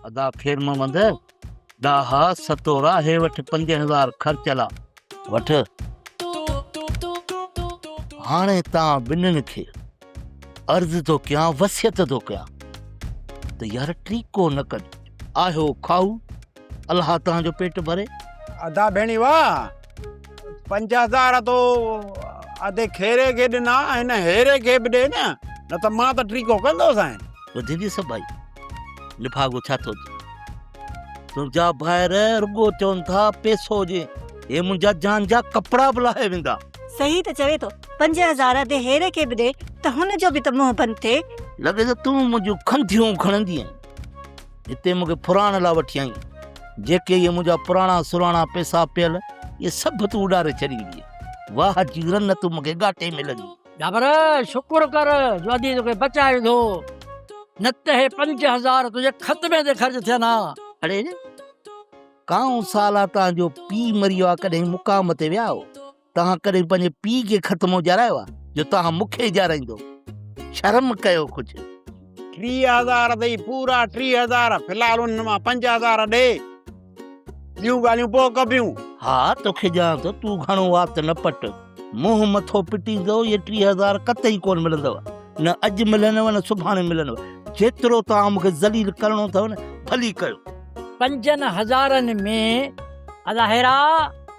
ادا خير محمد ڏاها ستورا هي وٺ پنج هزار خرچ لا وٺ هاڻي تان ٻنن کي عرض ٿو ڪيان وصيت ٿو ڪيان ته يار ٽيڪو نه ڪج آهيو کائو الله توهان جو پيٽ ڀري. ادا ڀيڻي واه پنج هزار تو ادي کيري کي ڏنا هن هيري کي به ڏي نه نه ته مان ته ٽريڪو ڪندو سائين ٻڌي ڏي سڀائي لفاگو ڇا ٿو چي تنهنجا ڀائر رڳو چون ٿا پيسو ڏي هي منهنجا جان جا ڪپڙا به لاهي ويندا صحيح ته چوي ٿو پنج هزار ادي هيري کي به ڏي ته هن جو به ته منهن بند ٿئي. لڳي ته تون منهنجون کنڌيون کڻندين. هتي مون کي ڦرائڻ لاء وٺي آئين. جيڪي اهي منهنجا پراڻا سراڻا پئسا پيل، اهي سڀ تون اڏاري ڇڏيندينء. واهه جي رن تون مون کي ڳاٽي ۾ لڳي. ڊاڀر! شڪر ڪر جو ادي توکي بچائي وڌو، نه ته اهي پنج هزار تنهنجي خطبي تي خرچ ٿين ها. اڙي! ڪانء سال اھا تان جو پيء مري ويو آ ڪڏھن مقام تي ويا آھو؟ توهان ڪڏهن پنهنجي پيء کي خط مون ڄارايو آهي جو توهان مون کي ڄارائيندو؟ شرم ڪيو ڪجهه. ٽيهه هزار اٿئي پورا ٽيهه هزار في الحال انهن مان پنج هزار ڏي ٻيون ڳالهيون پوء ڪبيون. ها توکي ڏيان ٿو تون گهڻو وات نه پٽ منهن مٿو پٽيندو اهي ٽيهه هزار قطعي ڪونه ملندؤ نه اڄ ملنؤ نه سڀاڻي ملنؤ جيترو توهان مون کي ذليل ڪرڻو اٿئو نه ڀلي ڪيو. پنجن هزارن ۾ الاهيرا.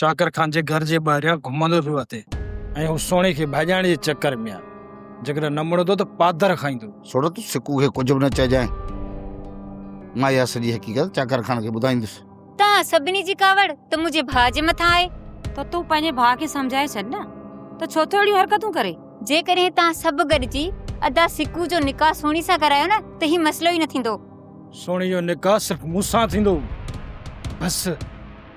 چاڪر خان جي گهر جي ٻاهريان گهمندو پيو اچي ۽ هو سهڻي کي ڀڄائڻ جي چڪر ۾ آهي. جيڪڏهن نه مڙندو ته پاڌر کائيندو. سهڻو تون سڪو کي ڪجهه به نه چئجانء. مان اها سڄي حقيقت چاڪر خان کي ٻڌائيندس. توهان سڀني جي ڪاوڙ ته منهنجي ڀاء جي مٿان آهي. ته تون پنهنجي ڀاء کي سمجهائي ڇڏ نه ته ڇو ٿو اهڙيون حرڪتون ڪري. جيڪڏهن توهان سڀ گڏجي ادا سڪو جو نڪاح سهڻي سان ڪرايو نه ته هي مسئلو ئي نه ٿيندو. سهڻي جو نڪاح صرف مون سان ٿيندو بس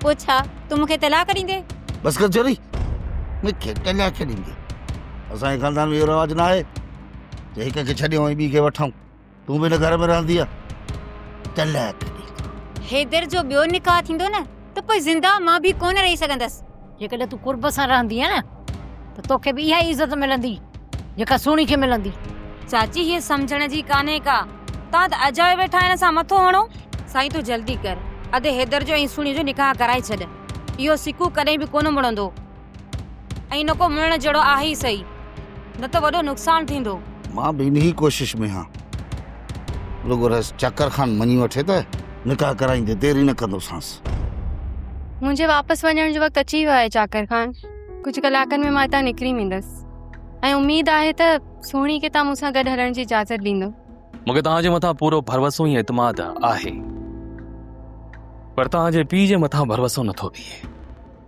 پوء ڇا تون مونکي طلاق ڏيندي بس ڪر چوري مونکي طلاق ڏيندي اسان جي خاندان ۾ اهو رواج نه آهي جو هڪ کي ڇڏيون ۽ ٻي کي وٺون تون به هن گهر ۾ رهندي طلاق ڏيندو حيدر جو ٻيو نڪاح ٿيندو نه ته پوء زنده مان به ڪونه رهي سگهندس. جيڪڏهن تون قرب سان رهندينء نه ته توکي به اها ئي عزت ملندي، جيڪا سهڻي کي ملندي. چاچي هيء سمجهڻ جي ڪانهي ڪا، توهان ته اجايو ويٺا هن سان مٿو هڻو. سائين تون جلدي ڪر، ادي حيدر جو ۽ سهڻيء جو نڪاح ڪرائي ڇڏ. اهو سڪو ڪڏهن به ڪونه مڙندو. ۽ نه ڪو مڙڻ جهڙو آهي ئي سهي، نه ته وڏو نقصان ٿيندو. مان به انهيء ڪوشش ۾ هان. رڳو رئيس چاڪر خان مڃي وٺي ته نڪاح ڪرائيندي دير ئي نه ڪندوسانس. منهنجي واپس وڃڻ جو وقت اچي ويو آهي چاڪر خان. ڪجهه ڪلاڪن ۾ مان هتان نڪري ويندس ۽ اميد آهي ته سهڻي کي توهان مون سان گڏ هلڻ جي اجازت ڏيندو. مون کي توهان جي مٿان پورو ڀروسو ۽ اعتماد آهي، پر توهان جي پيء جي مٿان ڀروسو نٿو بيهي.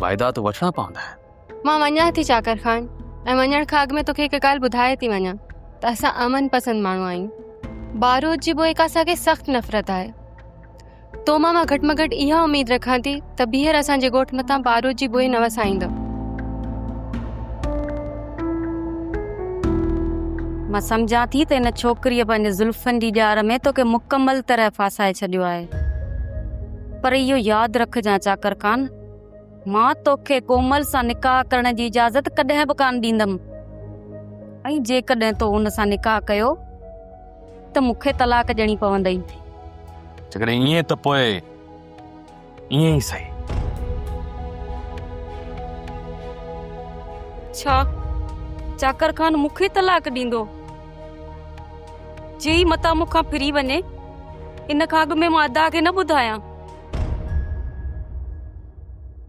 واعدات وٺڻا پوندا آهن مان وڃان ٿي چاڪر خان ۽ وڃڻ کان اڳ ۾ توکي هڪ ڳالهه ٻڌائي ٿي وڃان ته اسان امن پسند ماڻهو آهيون بارود جي بوء کان اسان کي سخت نفرت آهي تو مان مان گهٽ ۾ گهٽ اها اميد رکان ٿي ته ٻيهر اسانجي ڳوٺ مٿان بارود جي بوء نه وسائيندو مان سمجھان ٿي ته ان ڇوڪريء پنهنجي زلفن جي ڄار ۾ توکي مڪمل طرح ڦاسائي ڇڏيو آهي پر اهو ياد رکجان چاڪر خان، مان توکي ڪومل سان نڪاح ڪرڻ جي اجازت ڪڏهن به ڪانه ڏيندم ۽ جيڪڏهن تو هن سان نڪاح ڪيو ته مون کي طلاق ڏيڻي پوندئي. جيڪڏهن ائين ته پوء ائين ئي سهي. ڇا چاڪر خان مون کي طلاق ڏيندو؟ جي متان مون کان ڦري وڃي ان کان اڳ ۾ مان ادا کي نه ٻڌايان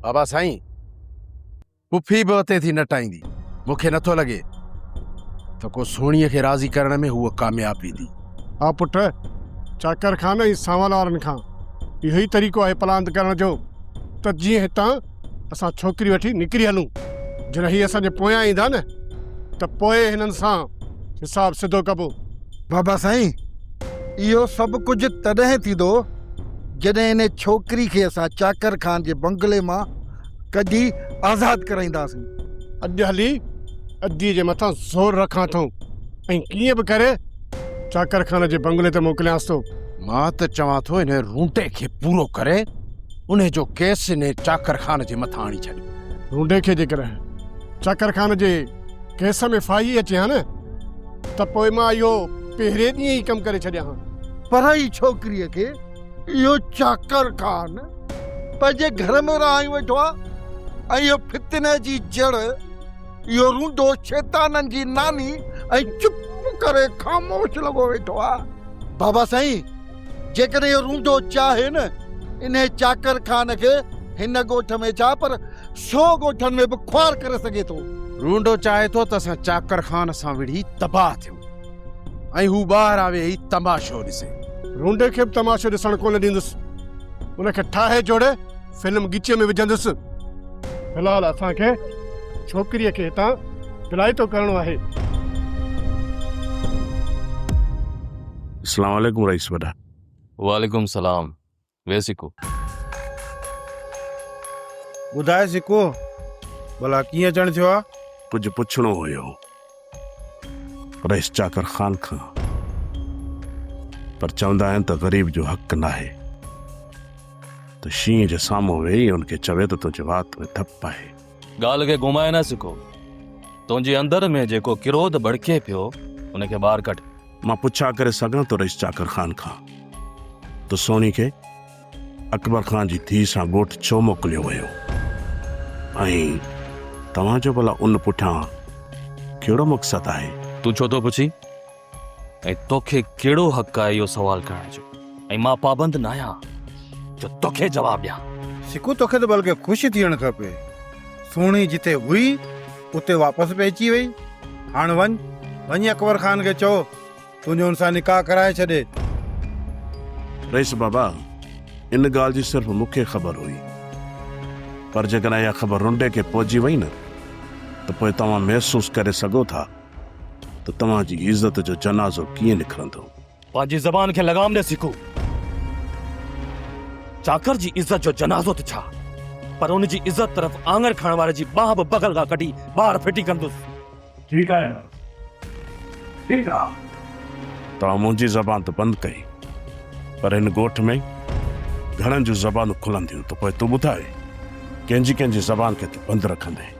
بابا سائين پڦي به اتي ٿي نٽائيندي مونکي نٿو لڳي ته ڪو سوڻيء کي راضي ڪرڻ ۾ هوء ڪامياب ويندي ها پٽ چاڪر خان ۽ سانول وارن کان اهو ئي طريقو آهي پلاند ڪرڻ جو ته جيئن هتان اسان ڇوڪري وٺي نڪري هلون. جڏهن هي اسان جي پويان ايندا نه ته پوء هنن سان حساب سڌو ڪبو. بابا سائين اهو سڀ ڪجهه تڏهن ٿيندو جڏهن ان ڇوڪري کي اسان چاڪر خان جي بنگلي مان ڪڍي آزاد ڪرائينداسين. اڄ هلي ادي جي مٿان زور رکان ٿو ۽ ڪيئن به ڪري چاڪر خان جي بنگلي تي موڪليانس ٿو. مان ته چوان ٿو انهي رونٽي کي پورو ڪري. انهي جو ڪيس انهي چاڪر خان جي مٿان آڻي ڇڏيو. ڍونڍي کي جيڪڏهن چاڪر خان جي ڪيس ۾ ڦاهي اچي ها نه ته پوء مان اهو پهرين ڏينهن ئي ڪم ڪري ڇڏيان ها. پر هي ڇوڪريء کي اهو چاڪر خان پنهنجي گهر ۾ رهائي ويٺو آهي ۽ اهو فتني جي جڙ، اهو رونڊو شيطانن جي ناني ۽ چپ ڪري خاموش لڳو ويٺو آهي. بابا سائين! جيڪڏهن اهو رونڊو چاهي نه انهي چاڪر خان کي هن ڳوٺ ۾ ڇا پر سو ڳوٺن ۾ به خوار ڪري سگهي ٿو. رونڊو چاهي ٿو ته اسان چاڪر خان سان وڙهي تباهه ٿيون ۽ هو ٻاهر آ ويهي تماشو ڏسي. رونڊي کي به تماشو ڏسڻ ڪونه ڏيندس. ان کي ٺاهي جوڙي فلم ڳچيء ۾ وجهندس. في الحال اسان کي ڇوڪريء کي هتان دلائتو ڪرڻو آهي. اسلام عليڪم رئيس وڏا. وعليڪم سلام وي سڪو. ٻڌاء سڪو ڀلا ڪيئن اچڻ ٿيو آ. ڪجهه پڇڻو هيو رئيس چاڪر خان کان پر چوندا آهن ته غريب جو حق ناهي ته شينهن جي سامهون ويهي ان کي چوي ته تنهنجي وات ۾ ڌپ آهي. ڳالهه کي گهمائي نه سڪو تنهنجي اندر ۾ جيڪو ڪروڌ ڀڙڪي پيو ان کي ٻاهر ڪڍ. مان پڇا ڪري سگهان ٿو رئيس چاڪر خان کان ته سهڻي کي اڪبر خان جي ڌيء سان ڳوٺ ڇو موڪليو ويو ۽ توهان جو ڀلا ان پٺيان ڪهڙو مقصد آهي؟ تون ڇو ٿو پڇين ۽ توکي ڪهڙو حق آهي اهو سوال ڪرڻ جو ۽ مان پابند ناهيان جو توکي جواب ڏيان. سڪو توکي ته بلڪه خوش ٿيڻ کپي. سهڻي جتي هئي. اتي واپس به اچي وئي. هاڻ وڃ، وڃي اڪبر خان کي چئو تنهنجو ان سان نڪاح ڪرائي ڇڏي. رئيس بابا، ان ڳالهه جي صرف مون کي خبر هئي. پر جيڪڏهن اها خبر رنڊي کي پهچي وئي نه ته پوء توهان محسوس ڪري سگهو ٿا ته توهان جي عزت جو جنازو ڪيئن نڪرندو. پنهنجي زبان کي لگام ڏي سکو. چاڪر جي عزت جو جنازو ته ڇا پر ان جي عزت طرف آڱر کڻڻ واري جي ٻانهن به بغل کان ڪڍي ٻاهر ڦٽي ڪندس. ٺيڪ آهي نه؟ ٺيڪ آ. توهان منهنجي زبان ته بند ڪئي پر هن ڳوٺ ۾ گهڻن جون زبانون کلنديون ته پوء تون ٻڌاء ڪنهن جي ڪنهن جي زبان کي تون بند رکندين.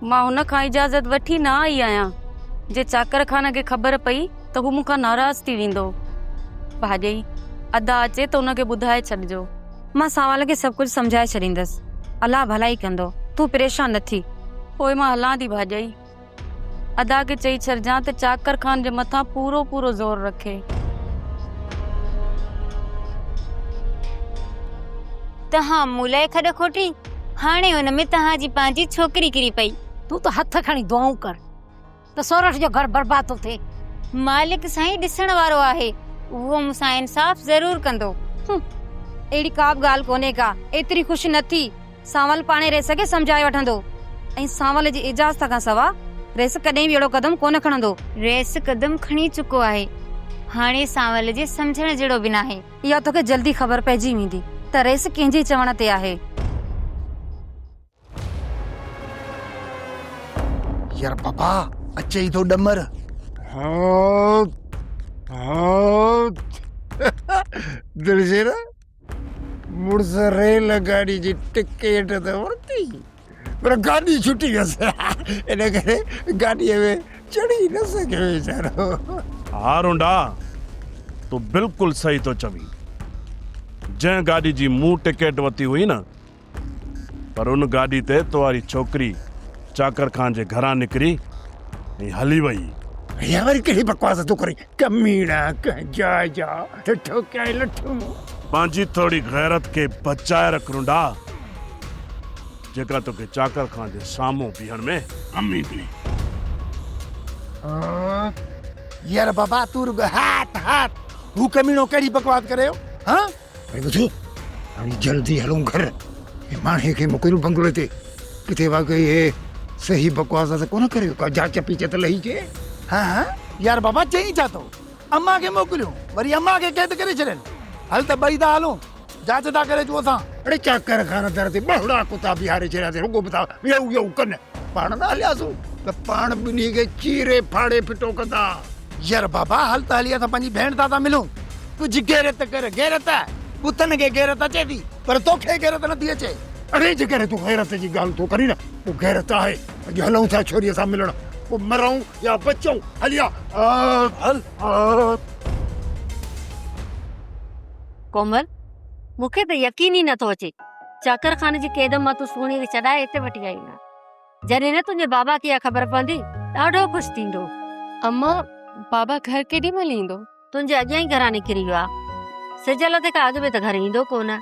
مان هن کان اجازت وٺي نه آئي آهيان. جي چاڪر خان کي خبر پئي ته هو مون کان ناراض ٿي ويندو. ڀاڄئي، ادا اچي ته ان کي ٻڌائي ڇڏجو. مان ساول کي سڀ ڪجهه سمجهائي ڇڏيندس. الله ڀلائي ڪندو. تون پريشان نه ٿي. پوء مان هلان ٿي ڀاڄئي. ادا کي چئي ڇڏجان ته چاڪر خان جي مٿان پورو پورو زور رکي. تنهن مون لاء کڏ کوٽي. هاڻي ان ۾ توهان جي پنهنجي ڇوڪري ڪري پئي. تون ته هٿ کڻي دعائون ڪر ته سورٺ جو گهر برباد ٿو ٿئي. مالڪ سائين ڏسڻ وارو آهي، اهو مون سان انصاف ضرور ڪندو. هنم، اهڙي ڪا به ڳالهه ڪونهي ڪا ايتري خوش نه ٿي، سانول پاڻهي ريس کي سمجهائي وٺندو ۽ سانول جي اجازت کان سوا ريس ڪڏهن به اهڙو قدم ڪونه کڻندو. ريس قدم کڻي چڪو آهي، هاڻي سانول جي سمجهڻ جهڙو به ناهي. اها توکي جلدي خبر پئجي ويندي ته ريس ڪنهن جي چوڻ تي آهي. يار بابا اچي ئي ٿو ڏمر. دلشير مڙس ريل گاڏي جي ٽڪيٽ ته ورتي پر گاڏي ڇٽي ويس ان ڪري گاڏيء ۾ چڙهي نه سگهيو ويچارو. ها رونڊا تون بلڪل صحيح ٿو چوين. جنهن گاڏي جي مون ٽڪيٽ وتي هئي نه پر ان گاڏي تي تو واري ڇوڪري چاڪر خان جي گهران نڪري ۽ هلي وئي. هي وري ڪهڙي بڪواس ٿو ڪرين. ڪميڻا ڪنهن جاء جا ٺٺو ڪيائين لٺون. پنهنجي ٿوري غيرت کي بچائي رک رنڊا جيڪا توکي چاڪر خان جي سامهون بيهڻ ۾ ڪم ايندي. يار بابا تون رڳو هات هات هو ڪميڻو ڪهڙي بڪواس ڪريو هان. ڀاء ٻڌ هاڻي جلدي هلون گهر ۽ ماڻهي کي موڪليون بنگلي تي ڪٿي واقعي هي صحيح بڪواس ته ڪونه ڪريو ڪا جاچ پيچ ته لهي جي. هه هه يار بابا چئين ڇا ٿو امان کي موڪليون وري امان کي قيد ڪري ڇڏين هل ته ٻئي ٿا هلون جاچ ٿا ڪري اچون اسان. اڙي چاڪر خانه در تي ٻهڙا ڪتا بيهاري ڇڏيا اٿئي رڳو به ٿا ويئو ويئو ڪن. پاڻ نه هلياسون ته پاڻ ٻنهي کي چيري ڦاڙي ڦٽو ڪندا. ير بابا هل ته هلي اسان پنهنجي ڀيڻ تان ٿا ملون. ڪجهه غيرت ڪر غيرت بتن کي غيرت اچي ٿي پر توکي غيرت نٿي اچي. اڙي جيڪڏهن تون غيرت جي ڳالهه ٿو ڪرين پوء غيرت آهي اڄ هلون ٿا ڇوري سان ملڻ پوء مرئون يا بچئون هل يا هل هل. ڪومل مون کي ته يقين ئي نٿو اچي. چاڪر خانه جي قيد مان تون سهڻي کي ڇڏائي هتي وٺي آئي آهين. جڏهن نه تنهنجي بابا کي اها خبر پوندي، ڏاڍو خوش ٿيندو. اما، بابا گهر ڪيڏي مهل ايندو؟ تنهنجي اڳيان ئي گهران نڪري ويو آهي. سج لٿي کان اڳ ۾ ته گهر ايندو ڪو نه.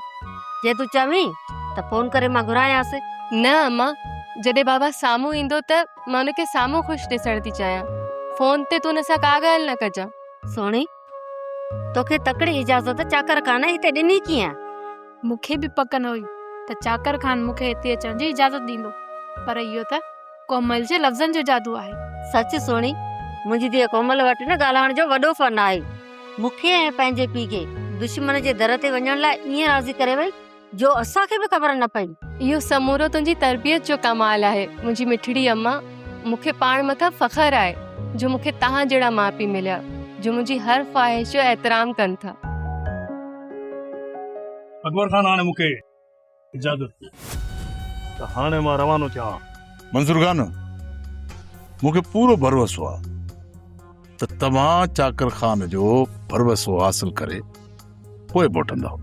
جي تون چوين ته فون ڪري مان گهرايانس. نه اما، جڏهن بابا سامهون ايندو ته مان هن کي سامهون خوش ڏسڻ ٿي چاهيان. فون تي تون هن سان ڪا ڳالهه نه ڪجان. سهڻي، توکي تڪڙي اجازت چاڪر خانه هتي ڏني ڪيئن؟ مون کي به پڪ نه هئي ته چاڪر خان مون کي هتي اچڻ جي اجازت ڏيندو پر اهو ته ڪومل جي لفظن جو جادو آهي. سچ سهڻي، منهنجي ڌيء ڪومل وٽ نه ڳالهائڻ جو وڏو فن آهي. مون کي ۽ پنهنجي پيء کي دشمن جي در تي وڃڻ لاء ائين راضي ڪري وئي جو اسان کي به خبر نه پئي. اهو سمورو تنهنجي تربيت جو ڪمال آهي منهنجي مٺڙي اما. مون کي پاڻ مٿان فخر آهي جو مون کي توهان جهڙا ماء پيء مليا جو منهنجي هر خواهش جو احترام ڪن ٿا. اڪبر خان هاڻي مون کي اجازت ڏيو ته هاڻي مان روانو ٿيان ها. منصور خان مون کي پورو ڀروسو آهي ته توهان چاڪر خان جو ڀروسو حاصل ڪري پوء موٽندؤ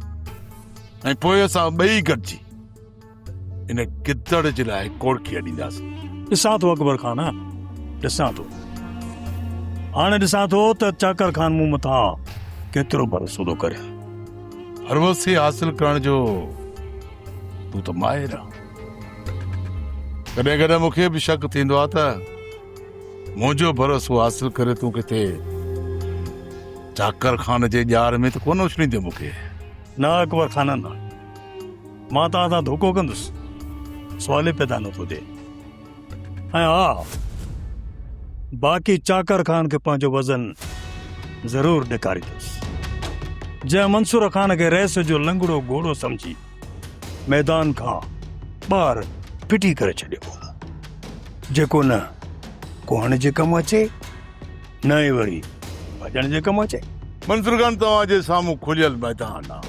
۽ پوء اسان ٻئي گڏجي ان گدڙ جي لاء ڪوڙڪي اڏينداسين. ڏسان ٿو اڪبر خان آ ڏسان ٿو. هاڻي ڏسان ٿو ته چاڪر خان مون مٿان ڪيترو ڀروسو ٿو ڪري. هروسي حاصل ڪرڻ جو تون ته ماهر آ. ڪڏهن ڪڏهن مون کي به شڪ ٿيندو آ ته منهنجو ڀروسو حاصل ڪري تون ڪٿي چاڪر خان جي ڄار ۾ ته ڪونه اڇليندين مون کي. نه اڪبر خان نه. مان توهان سان ڌوڪو ڪندس سوال ئي پيدا نه ٿو ٿئي ۽ ها باقي چاڪر خان کي پنهنجو وزن ضرور ڏيکاريندس جنهن منصور خان کي رئيس جو لنگڙو گهوڙو سمجهي ميدان کان ٻاهر ڦٽي ڪري ڇڏيو جيڪو نه ڪوهڻ جي ڪم اچي نه ئي وري ڀڄڻ جي ڪم اچي. منظور خان توهان جي سامهون کليل ميدان آ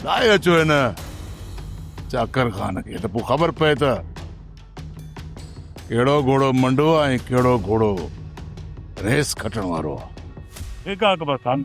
لاهي اچو هن چاڪر خان کي ته پوء خبر پئي ته ڪهڙو گهوڙو منڊو آ ۽ ڪهڙو گهوڙو ريس کٽڻ وارو آ. ٺيڪ آ اڪبر خان.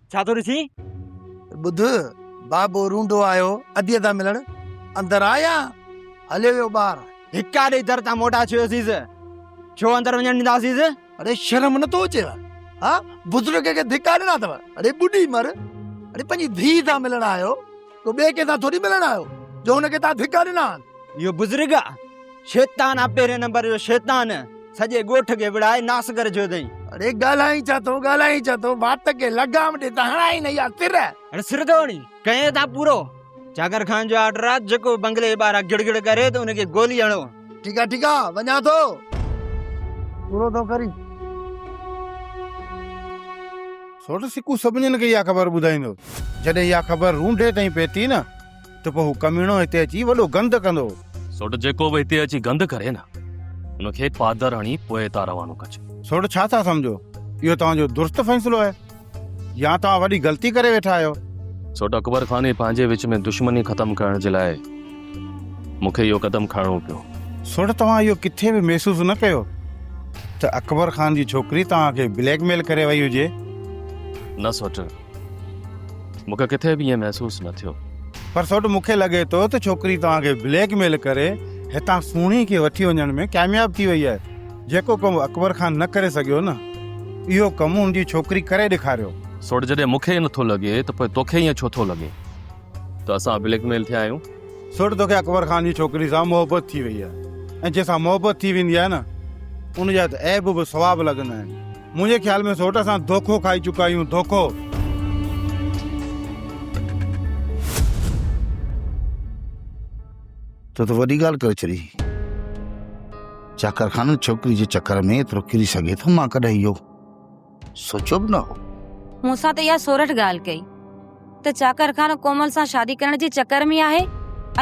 ڇا ٿو ڏسين؟ ٻڌ، بابو رونڊو آيو، اديء تان ملڻ اندر آ يا هليو ويو ٻاهر؟ ڌڪا ڏئي در تان موٽا ڇڏيوسيس. ڇو اندر وڃڻ ڏينداسيس؟ اڙي شرم نه ٿو اچيو؟ ها بزرگ کي ڌڪا ڏنا اٿو؟ اڙي ٻڏي مر. اڙي پنهنجي ڌيء سان ملڻ آيو. تو ٻئي ڪنهن سان ٿوري ملڻ آيو جو هن کي تان ڌڪا ڏنا آهن. اهو بزرگ آ شيطان آ پهرين نمبر جو شيطان سڄي ڳوٺ کي وڙهائي ناس ڪري ڇڏيو اٿئي. اڙي ڳالهائين ڇا ٿو ڳالهائين ڇا ٿو وات کي لگام ڏي ته هڻائين نه اها سر. هن سر ٿو هڻين ڪئين ٿا پورو جاگر خان جو آرڊر آ جيڪو بنگلي جي ٻاهران گڙ گڙ ڪري ته ان کي گولي هڻو. ٺيڪ آ ٺيڪ آ وڃان ٿو پورو ٿو ڪرين. سوٽ سڪو سڀنين کي اها خبر ٻڌائيندو. جڏهن اها خبر رونڊي تائين پهتي نه ته پوء هو ڪميڻو هتي اچي وڏو گند ڪندو. سوٽ جيڪو به هتي اچي گند ڪري نه ان کي پادر هڻي پوء هتان روانو ڪجي. سوٽ ڇا ٿا سمجهو؟ اهو توهان جو درست فيصلو آهي يا توهان وڏي غلطي ڪري ويٺا آهيو؟ سوٽ اڪبر خان ۽ پنهنجي وچ ۾ دشمني ختم ڪرڻ جي لاء مون کي اهو قدم کڻڻو پيو. سوڍ توهان اهو ڪٿي به محسوس نه ڪيو ته اڪبر خان جي ڇوڪري توهان کي بليڪ ميل ڪري وئي هجي؟ نه سوڍ، مون کي ڪٿي به ائين محسوس نه ٿيو. پر سوڍ مون کي لڳي ٿو ته ڇوڪري توهان کي بليڪ ميل ڪري هتان سهڻي کي وٺي وڃڻ ۾ ڪامياب ٿي وئي آهي. جيڪو ڪم اڪبر خان نه ڪري سگهيو نه اهو ڪم هن جي ڇوڪري ڪري ڏيکاريو. سوڍ، جڏهن مون کي ئي نه ٿو لڳي ته پوء توکي ائين ڇو ٿو لڳي؟ ته اسان بليڪ ميل ٿيا آهيون. سوٽ توکي اڪبر خان جي ڇوڪري سان محبت ٿي وئي آهي ۽ جنهن سان محبت ٿي ويندي آهي نه ان جا ته عيب به ثواب لڳندا آهن. منهنجي خيال ۾ سوٽ اسان ڌوکو کائي چڪا آهيون ڌوکو. تو ته وڏي ڳالهه ڪري ڇڏي. چاڪر خان ڇوڪري جي چڪر ۾ ايترو ڪري سگهي ٿو مان ڪڏهن اهو. سوچيو به نه هو. مون سان ته اها سورٺ ڳالهه ڪئي ته چاڪر خان ڪومل سان شادي ڪرڻ جي چڪر ۾ آهي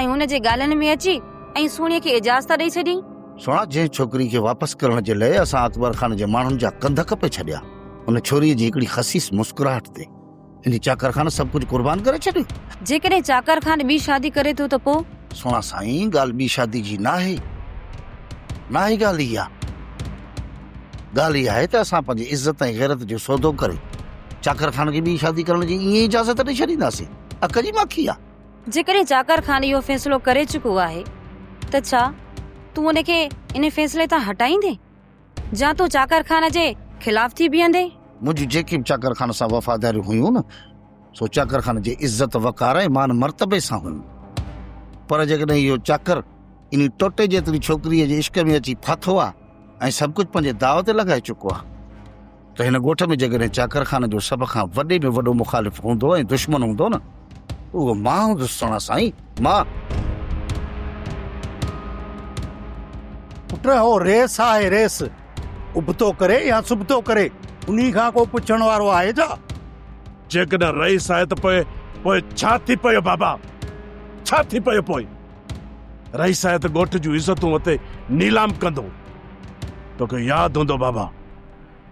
۽ ان جي ڳالهين ۾ اچي ۽ سهڻي کي اجازت ڏئي ڇڏيائين. سهڻا جنهن ڇوڪري کي واپس ڪرڻ جي لئه اسان اڪبر خان جي ماڻهن جا ڪنڌ ڪپي ڇڏيا، ان ڇوري جي هڪڙي خسيس مسڪراهٽ تي ان چاڪر خان سڀ ڪجهه قربان ڪري ڇڏيو. جيڪڏهن چاڪر خان ٻي شادي ڪري ٿو ته پو؟ سهڻا سائين ڳالهه ٻي شادي جي ناهي. ناهي ڳالهه اها. ڳالهه اها آهي ته اسان پنهنجي عزت ۽ غيرت جو سودو ڪري چاڪر خان کي ٻي شادي ڪرڻ جي ائين اجازت ڏئي ڇڏينداسين. اک جي ماکي آ. جيڪڏهن چاڪر خان اهو فيصلو ڪري چڪو آهي ته ڇا تون ان کي ان فيصلي تان هٽائيندين؟ جا تون چاڪر خان جي خلاف ٿي بيهندين؟ منهنجيون جيڪي به چاڪر خان سان وفاداريون هيون نه سو چاڪر خان جي عزت وقار ۽ مان مرتبي سان هيون پر جيڪڏهن اهو چاڪر انهي ٽوٽي جيتري ڇوڪريء جي عشق ۾ اچي ڦاٿو آهي ۽ سڀ ڪجهه پنهنجي داء تي لڳائي چڪو آهي ته هن ڳوٺ ۾ جيڪڏهن چاڪرخانه جو سڀ کان وڏي ۾ وڏو مخالف هوندو ۽ دشمن هوندو نه اهو مان هوندس سهڻا سائين مان پٽ هو ريس آهي ريس ابتو ڪري يا سبتو ڪري انهي کان ڪو پڇڻ وارو آهي ڇا جيڪڏهن رئيس آهي ته پوء پوء ڇا ٿي پيو بابا ڇا ٿي پيو پوء رئيس آهي ته ڳوٺ جون عزتون اتي نيلام ڪندو توکي ياد هوندو بابا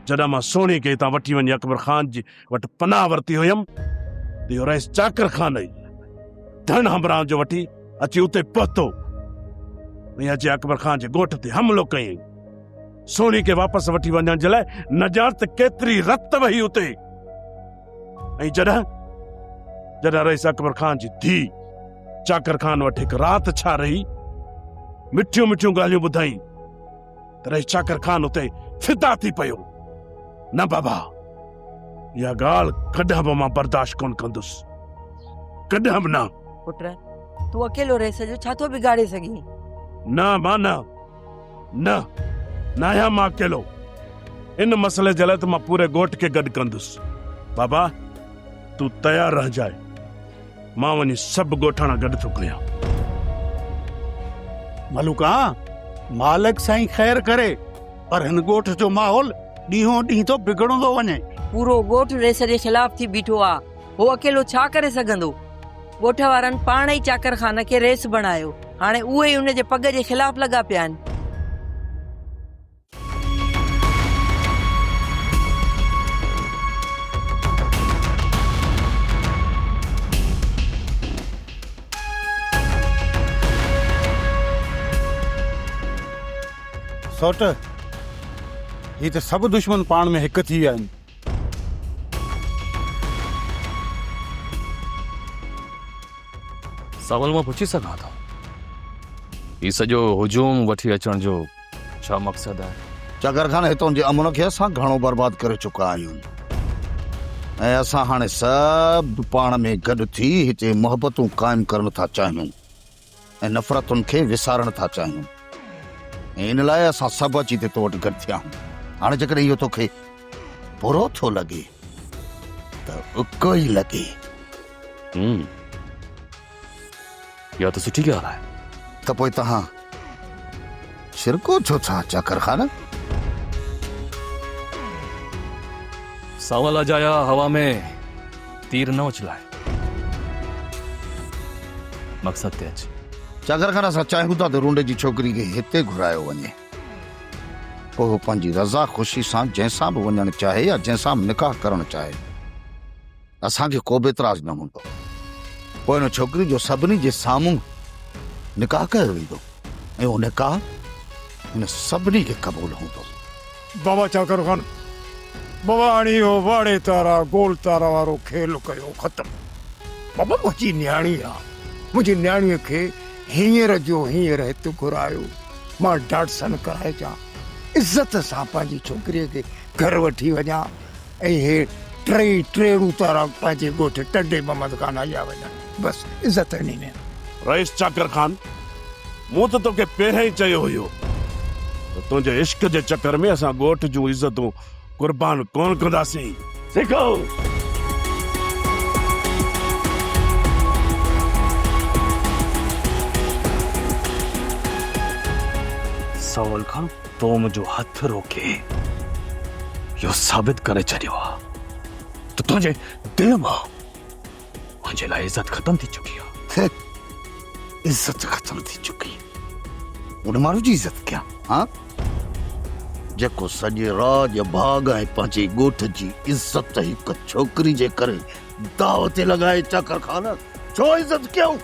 جڏهن مان سهڻي کي هتان وٺي وڃي اڪبر خان جي وٽ پناهه ورتي هيم ته اهو رئيس چاڪر خان ئي ڌڻ همراهن جو وٺي اچي اتي پهتو ۽ اچي اڪبر خان جي ڳوٺ تي حملو ڪيائين سهڻي کي واپس وٺي وڃڻ جي لاء نه ڄاڻ ته ڪيتري رت وهي اتي ۽ جڏهن جڏهن رئيس اڪبر خان جي ڌي چاڪر خان وٽ هڪ رات ڇا رهي مٺيون مٺيون ڳالهيون ٻڌائين تڏهن چاڪر خان اتي فدا ٿي پيو نه بابا اها ڳالهه ڪڏهن به مان برداشت ڪون ڪندس ڪڏهن به نه پٽ تون اڪيلو رهي سڄو ڇا ٿو بگاڙي سگهين نه ماء نه نه نه آهيان مان اڪيلو ان مسئلي جي لاء ته مان پوري ڳوٺ کي گڏ ڪندس بابا تون تيار رهجاء مان وڃي سڀ ڳوٺاڻا گڏ ٿو ڪيان. ملوڪا، مالڪ سائين خير ڪري، پر هن ڳوٺ جو ماحول ڏينهون ڏينهن ٿو بگڙندو وڃي. پورو ڳوٺ ريس جي خلاف ٿي بيٺو آ، هو اڪيلو ڇا ڪري سگهندو؟ ڳوٺ وارن پاڻ ئي چاڪر خان کي ريس بڻايو، هاڻي اهي ئي ان جي پڳ جي خلاف لڳا پيا آهن. سوٽ هي ته سڀ دشمن پاڻ ۾ هڪ ٿي ويا آهن سوال مان پڇي سگهان ٿا هي سڄو هجوم وٺي اچڻ جو ڇا مقصد آهي؟ چاڪر خان، هتون جي امن کي اسان گهڻو برباد ڪري چڪا آهيون ۽ اسان هاڻي سڀ پاڻ ۾ گڏ ٿي هتي محبتون قائم ڪرڻ ٿا چاهيون ۽ نفرتن کي وسارڻ ٿا چاهيون ۽ ان لاء اسان سڀ اچي تي تو وٽ گڏ ٿيا آهيون هاڻي جيڪڏهن اهو توکي برو ٿو لڳي ته اڪو ئي لڳي اها ته سٺي ڳالهه آهي. ته پوء توهان شرڪو ڇو ٿا چاڪر خان؟ سانول اجايا هوا ۾ تير نه اڇلائي. مقصد تي اچ. چاڪر خان اسان چاهيون ٿا ته رونڊي جي ڇوڪري کي هتي گهرايو وڃي. پوء هو پنهنجي رضا خوشي سان جنهن سان به وڃڻ چاهي يا جنهن سان به نڪاح ڪرڻ چاهي. اسان کي ڪوبه اعتراض نه هوندو. پوء ان ڇوڪري جو سڀني جي سامهون نڪاح ڪيو ويندو ۽ اهو نڪاح هن سڀني کي قبول هوندو. بابا چاڪر خان بابا هاڻي اهو واڙي تارا گول تارا وارو کيل ڪيو ختم. بابا منهنجي نياڻي آ. منهنجي نياڻيء کي هينئر جو هينئر هت گهرايو. مان ڊاٽسن ڪرائجان. عزت سان پنهنجي ڇوڪريء کي گهر وٺي وڃان. اهي ٽيئي ٽيئڙو تارا پنهنجي ڳوٺ ٽنڊي محمد کان آيا وڃن بس عزت هني ۾. رئيس چاڪر خان مون ته توکي پهريان ئي چيو هيو ته تنهنجي عشق جي چڪر ۾ اسان ڳوٺ جون عزتون قربان ڪونه ڪنداسين. سکو! سائول خان! تو منهنجو هٿ روڪي اهو ثابت ڪري ڇڏيو آ ته تنهنجي دل مان منهنجي لاء عزت ختم ٿي چڪي آ. عزت ختم ٿي چڪي؟ ان ماڻهو جي عزت ڪيان ها جيڪو سڄي راڄ ڀاڳ ۽ پنهنجي ڳوٺ جي عزت هڪ ڇوڪري جي ڪري داء تي لڳائي چاڪر خان ڇو عزت ڪيائون؟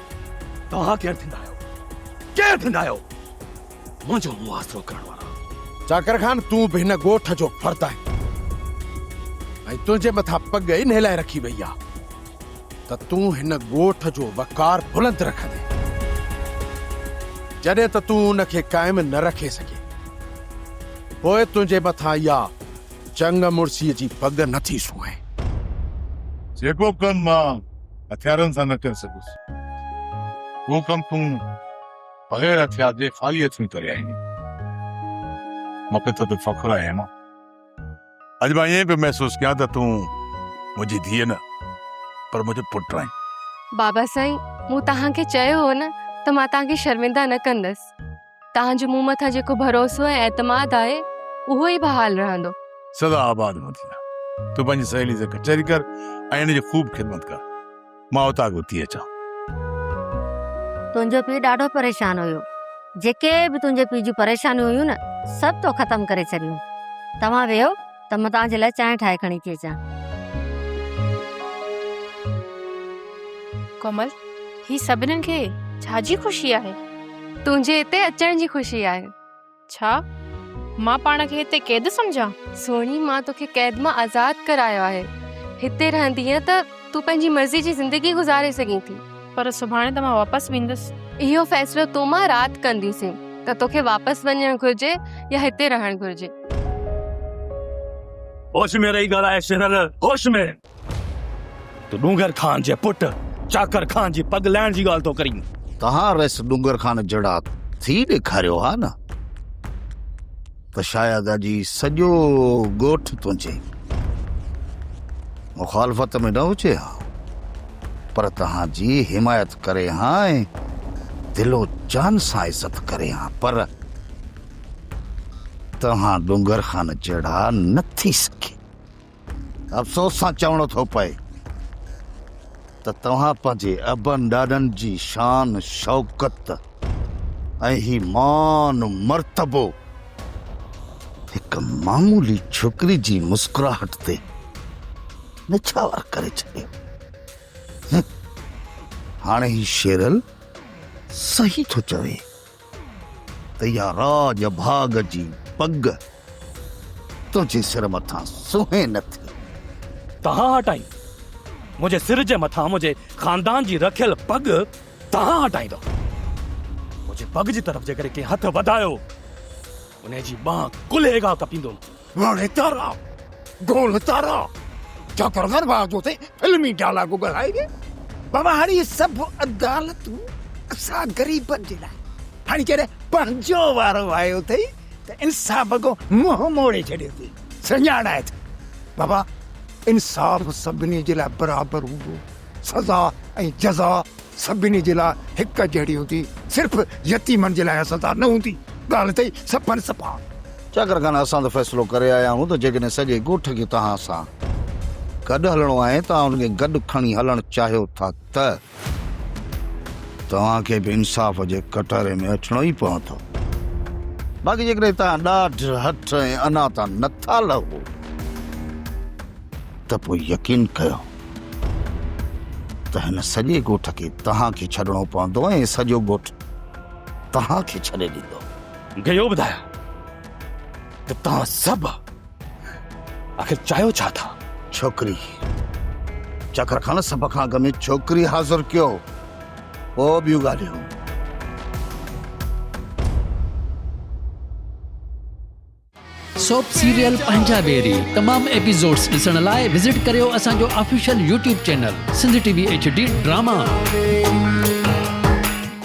توهان ڪير ٿيندا آهيو ڪير ٿيندا آهيو؟ منهنجو مون آسرو ڪرڻ وارو آهي. چاڪر خان تون به هن ڳوٺ جو فرد آهين ۽ تنهنجي مٿان پڳ ئي نهلائي رکي وئي آهي ته تون هن ڳوٺ جو وقار بلند رکندين جڏهن ته تون ان کي قائم نه رکي سگهين پوء تنهنجي مٿان اها چڱ مڙسيء جي پڳ نه ٿي سونهين. جيڪو ڪم مان هٿيارن سان نه ڪري سگهيس اهو ڪم تون بغير هٿيار جي خالي هٿين ڪري آئين هئي. مان کي تو تي فخر آهي هيما. اڄ مان ائين پيو محسوس ڪيان ته تون منهنجي ڌيء نه پر منهنجو پٽ آهين. بابا سائين مون توهان کي چيو هو نه ته مان توهان کي شرمنده نه ڪندس. توهان جو مون مٿان جيڪو ڀروسو ۽ اعتماد آهي اهو ئي بحال رهندو. سدا آباد هوندا. تون پنهنجي سهيلي سان ڪچهري ڪر ۽ ان جي خوب خدمت ڪر. مان اتان به اٿي اچان. تنهنجو پيء ڏاڍو پريشان هيو. جيڪي به تنهنجي پيء جون پريشانيون هيون نه سڀ تو ختم ڪري ڇڏيون. توهان ويهو ته مان توهان جي لاء چانهه ٺاهي کڻي ٿي اچان. ڪومل، هي سڀنن کي ڇا جي خوشي آهي؟ تنهنجي هتي اچڻ جي خوشي آهي. ڇا؟ مان پاڻ کي هتي قيد سمجهان؟ سهڻي مان توکي قيد مان آزاد ڪرايو آهي. هتي رهندينء ته تون پنهنجي مرضي جي زندگي گذاري سگهين ٿي. پر سڀاڻي ته مان واپس ويندس. اهو فيصلو تون مان رات ڪنديسين ته توکي واپس وڃڻ گهرجي يا هتي رهڻ گهرجي. هوش ۾ رهي ڳالهاء شرر، هوش ۾! تون ڏونگر خان جي پٽ چاڪر خان جي پڳ لهڻ جي ڳالهه ٿو ڪرين. توهان رئيس ڏونگر خان جهڙا ٿي ڏيکاريو ها نه ته شايد اڄ هي سڄو ڳوٺ تنهنجي مخالفت ۾ نه هجي ها پر توهان جي حمايت ڪري ها ۽ دل و جان سان عزت ڪري ها پر توهان ڏونگر خان جهڙا نه ٿي سگهي. افسوس سان چوڻو ٿو پئي ته توهان پنهنجي ابن ڏاڏن جي شان شوڪت ۽ هي مان مرتبو هڪ معمولي ڇوڪري جي مسڪراهٽ تي نڇاور ڪري ڇڏيو. هاڻي هي شيرل صحيح ٿو چوي. ته يا راڄ ڀاڳ جي پڳ تنهنجي سر مٿان سونهين نه ٿي. تنهن هٽائين منهنجي سر جي مٿان منهنجي خاندان جي رکيل پڳ تنهن هٽائيندؤ. منهنجي پڳ جي طرف جيڪڏهن ڪنهن هٿ وڌايو. انهيء جي ٻانهه ڪلهي کان ڪپيندو وڻ تارا گول تارا جاکر دروازو تي فلمي ڊائلاگ ڳالهائي ويا بواڙي سڀ عدالتون اسان غريبن جي لاء هاڻي جڏهن پنهنجو وارو آيو اٿئي ته انصاف اڳو منهن موڙي ڇڏيو اٿئي سڃاڻائي ته بابا انصاف سڀني جي لاء برابر هوندو سزا ۽ جزا سڀني جي لاء هڪ جهڙي هوندي، صرف يتيمن جي لاء اها سزا نه هوندي، ڳالهه اٿئي صفن صفا. چاڪر خان، اسان ته فيصلو ڪري آيا آهيون ته جيڪڏهن سڄي ڳوٺ کي توهان سان گڏ هلڻو آهي، توهان ان کي گڏ کڻي هلڻ چاهيو ٿا ته توهان کي به انصاف جي ڪٽهري ۾ اچڻو ئي پوندو، باقي جيڪڏهن توهان ڏاڍ، هٺ ۽ انا تان نٿا لهو. ته پوء يقين ڪيو ته هن سڄي ڳوٺ کي توهان کي ڇڏڻو پوندو ۽ سڄو ڳوٺ توهان کي ڇڏي ڏيندو. مون کي اهو ٻڌايو ته توهان سڀ آخر چاهيو ڇا ٿا؟ ڇوڪري چڪر کڻ سڀ کان اڳ ۾ ڇوڪري حاضر ڪيو پوء ٻيون ڳالهيون. سوپ سيريل پنهنجا بيري تمام ايپيسوڊز ڏسڻ لاء وزٽ ڪريو اسان جو official YouTube channel Sindh T V H D drama.